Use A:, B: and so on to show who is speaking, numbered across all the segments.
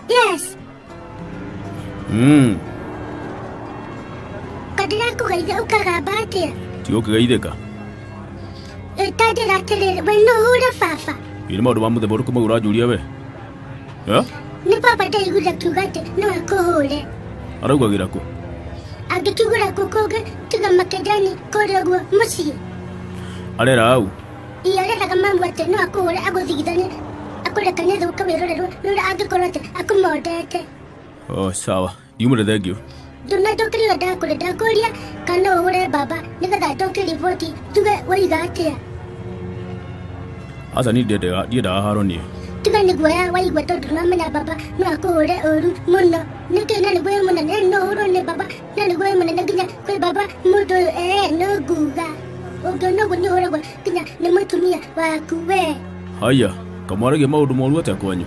A: Yes. Mm. Kadira kugaithe ukagamba atia? Tigo kigaitheka.
B: Ĩtandĩra
A: atĩrĩrĩ, we no ũhũre baba. Ĩ nĩ maũndũ ma mũthemba
B: ũrĩkũ mau ũranjũria we? Eh? nĩ baba
A: ndaiguire akiuga atĩ no akũhũre araugagĩra kũ
B: angĩkĩgũra
A: kũ kũngĩ tiga makendani kũrĩa guo mũciĩ arera
B: au iyo areraga mamu
A: atĩ no akũhũre agũthigithane akũrekanie thĩ ũkawĩrorerwo nũra angĩkorwo atĩ akũmondete oh
B: sawa yumå rä thengio ndona ndokĩrĩra
A: ndakũrĩ ndakũria kana ũhũre mbamba nĩgetha ndoke riboti tuge waiga atĩa
B: aca ni ndiendaga haro niä tiga nĩ guoya
A: waigua tondũ ndũramenya mbamba no akũhũre ũru mũno nĩkĩ na nĩ guoya mũnene ĩ, no ũhũrwo nĩ mbamba na nĩ guoya mũnene nginya kwĩ mbamba mũndũ ũyũ ee no nguga ũngĩona ũguo nĩ ũhũragwo nginya nĩ mũtumia waku wee haya
B: kamwaragia maå ndå moru atä a kwanyu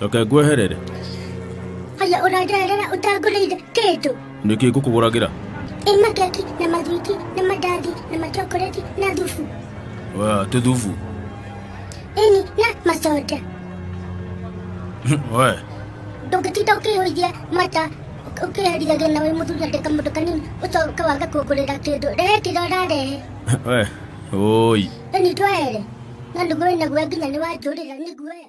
B: reke ngweherere haya
A: ũranderera ũtangũrĩire kĩndũ nĩ kĩ ngũkũgũragĩra
B: ĩ makeki
A: na mathwiti na mandathi na machokoreti na thubu Wa, tĩ
B: thubu
A: ĩni na macoda
B: we ndũngĩtinda
A: ũkĩhũithia mata ũk- ũkĩherithagia na wĩ mũthuri atĩ kamũndũ kanini ũcoka waga kũngũrĩra kĩndũ rehe kĩrĩa ũrarehe we oi
B: ĩni
A: twaere na nĩguo wĩnaguo nginya nĩ wanjũrĩra nĩguoya